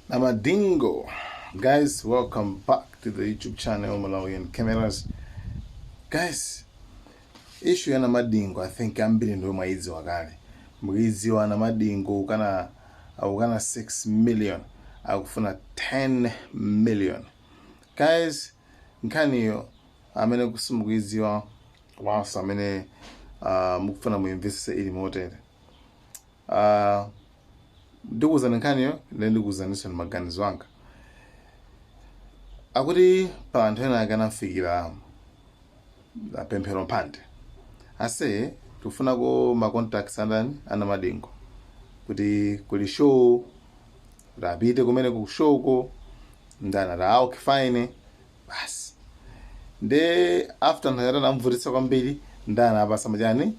Namadingo. Guys, welcome back to the YouTube channel Malawian Cameras. Guys, issue ya Namadingo I think ambiri ndio mwaidziwa kale. Mukuidziwa Namadingo ukana 6 million akufuna 10 million. Guys, nkhaniyo amene kusimukuidziwa wanso amene uh, mukufuna muimvesese ili motere. Ah, ndikuwuzani nkhaniyo nde ndikuwuzaninso ndi maganizo anga akuti pa anthu ena ake anamfikira ah, Pemphero Mphande ase tikufunako ma contacts andani a Namadingo kuti kuli show kuti apite kumene ku showko ndani ati ah, okay fine basi nde after ndani atamvutitsa kwambiri ndani apasa machani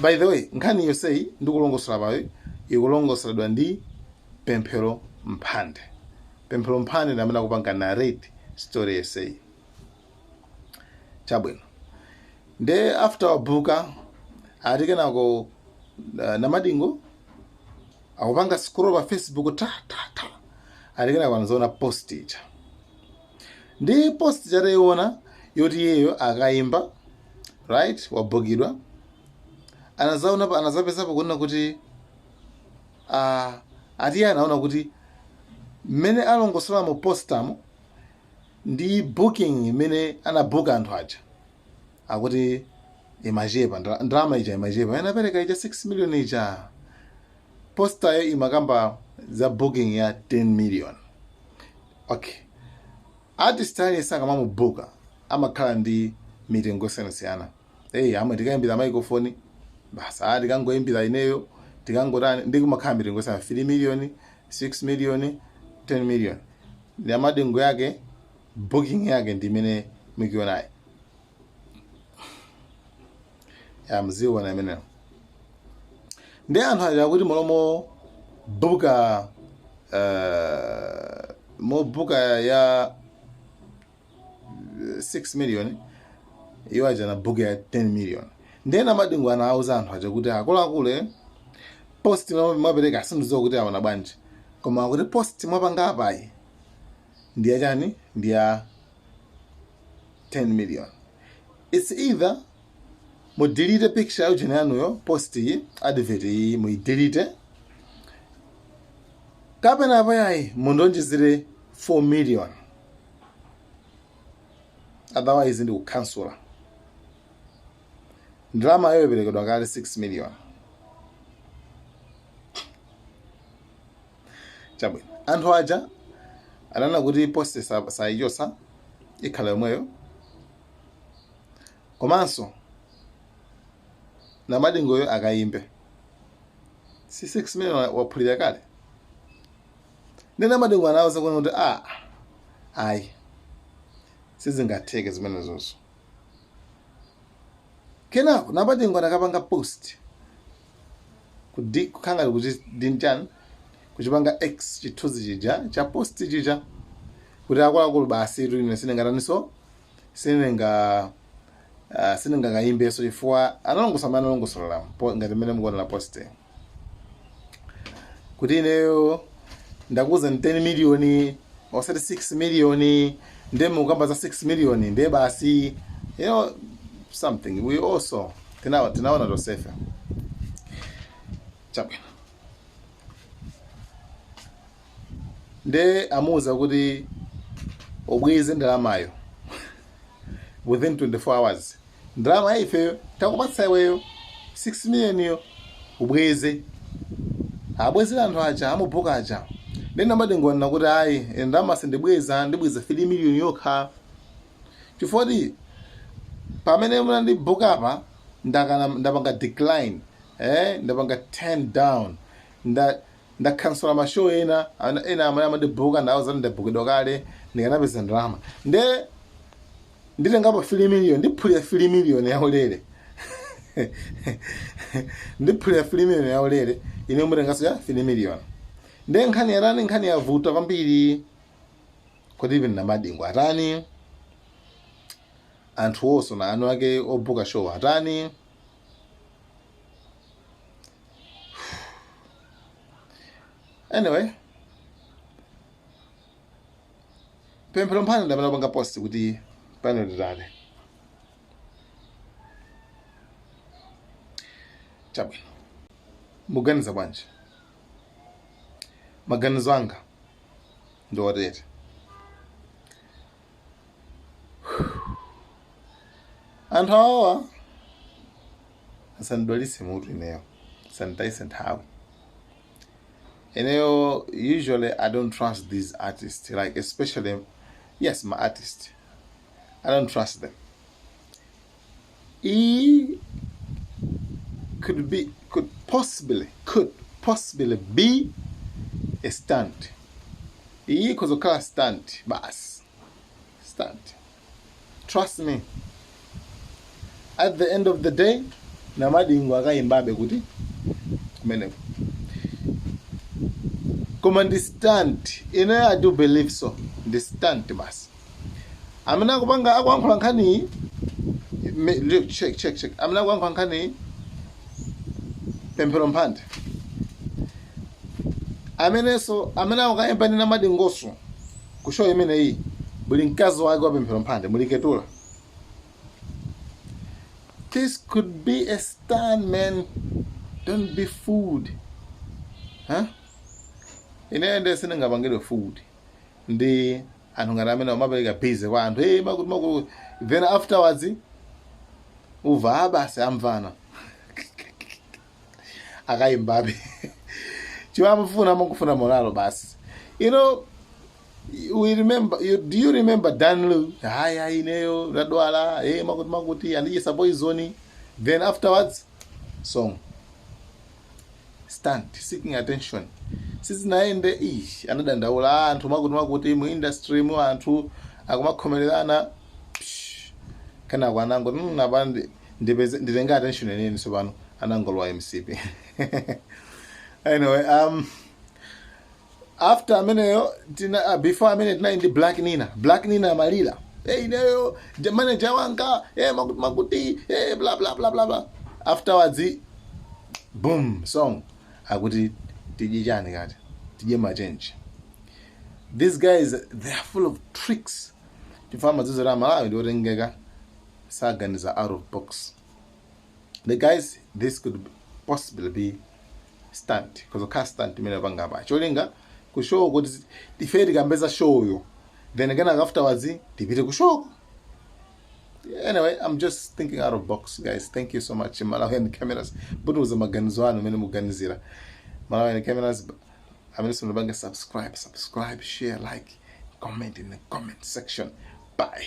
by the way nkhani yonseyi ndikulongosola apayo ikulongosoledwa ndi Pemphero Mphande Pemphero Mphande ndi amene akupanga narrate story yonseyi chabwino nde after abuka ati kenako uh, Namadingo akupanga scroll pa Facebook ta ta ta ati kenako anazaona post ija ndi post ija taiona yoti iyeyo akaimba right wabukidwa anazaona pa- anazapezapo kuona kuti ah, ati iye anaona kuti mmene alongosola mu postamo ndi booking imene anabuka anthu aja akuti imachepa ndra- ndalama ija imachepa inaperekedwa ija 6 million ija postayo imakamba za booking ya 10 million okay artist aliyense akamamubuka amakhala ndi mitengo yosiyanasiyana eyi amwene tikaimbira microphone basi aa tikangoimbira ineyo tikangotani nde kumakhala mitengo yosiyana 3 million 6 million 10 million nde Namadingo yake booking yake ndi imene mukuionayi ya mziona imeneyo nde anthu aja akuti mmalo mobuka uh, mobuka ya 6 million iwo aja anabuka ya 10 million nde Namadingo anawauza anthu aja kuti akuluakulu eh, post mwa- mwapereka sindidziwa kuti aona bwanji koma akuti post mwapanga apayi ndi ya chani ndi ya 10 million it's either mudelete picture ya ujeni yanuyo post iyi advert iyi muidelete kapena apayayi mundonjezere 4 million otherwise ndikukhansula ndalama yoperekedwa kale 6 million chabwino anthu aja ananena kuti post sa- sayichosa ikhala yomweyo komanso namadingoyo akayimbe si 6 million wa- waphulira kale nde namadingo anawuza kuona kuti a ayi sizingatheke zimenezozo kenako namadingo anakapanga post Kudi, kukhala ngati kuti ndi chani kuchipanga X chithunzi chija cha post chija kuti akuluakulu basi tu ine sindingataniso sindinga uh, sindingakayimbeso chifukwa analongosola mmene analongosolera po- ngati mmene mukuonera post kuti ineyo ndakuuzani 10 miliyoni osati 6 miliyoni ndiye mukukamba za 6 miliyoni ndiye basi you know something we also Tinawa- tinaona tonsefe apa. chabwino nde amuuza kuti ubweze ndalamayo within 24 hours ndalama ya ifeyo takupatsa iweyo 6 millioniyo ubweze abwezere anthu aja amubuka aja nde namadingo nkunena kuti ayi ndalama sindibweza ndibweza 3 million yokha chifukwa choti pamene munandibuka apa ndakana ndapanga decline eh ndapanga turn down nda ndakhansula mashow ena ana- ena amene amandibuka ndawauza kuti ndabukidwa kale ndikanapeza ndalama nde nditengapo 3 million ndiphulira 3 million yaulere ndiphulira 3 million yaulere ine mutengaso ya 3 million nde nkhani yatani nkhani yavuta kwambiri kuti even namadingo atani anthu onse ndi anthu ake obuka show atani anyway pemphero mphande ndi amene apanga post kuti pano nditani chabwino muganiza bwanji maganizo anga ndi otere anthu awawa asandidwalitse mutu ineyo asanditayitse nthawi ineyo usually i don't trust these artists like especially yes my artist i don't trust them E could be could possibly could possibly be a stunt. Iyi ikhoza kukhala stunt basi. Stunt. Trust me. At the end of the day, namadingo akayimbabe kuti kumeneko. Koma ndi stunt. Ine I do believe so. Ndi stunt basi. amene akupanga akuyankhula nkhaniyi me- ndi- check check check amene akuyankhula nkhaniyi pemphero mphande amenenso amene akukayimba ndi namadingo so ku show imeneyi muli mkazi wake wa pemphero mphande muli ketula this could be a stunt man don't be fooled huh? ine ndiye sindingapangidwe fooled ndi anthu ngati amene amapereka busy kwa anthu eh makuti makuti then afterwards uva ah basi amvana akayimbabe chimene amafuna amangofuna moralo basi you know do you remember danlu hayi hayi ineyo ndadwala eh makuti makuti andidyetsa poizoni then afterwards song stunt seeking attention sizinayende ish anadandaula eh makuti makuti mu industry mu anthu akumakhomererana psh, kenako anango "Mm, apa ndi- ndipeze nditenge attention yeniyeni sopano anangolowa mcp anyway um after ameneyo tina ah, before ameneyo tinali ndi black nina black nina amalira hey, ineyo je- manager wanga hey, makuti makuti hey, bla bla bla bla bla afterwards boom song akuti tidye chani kati tidye machenji these guys they are full of tricks chifukwa amadziwa amalawi ndi otengeka saganiza out of box the guys this could possibly be stunt because ukhala stunt imene apanga apa cholinga ku show kuti ife tikambeza show yo then again afterwards tipite ku show anyway i'm just thinking out of box guys thank you so much malawian cameras butuza maganizo anu amene muganizira malawian cameras amene simunapanga subscribe subscribe share like comment in the comment section bye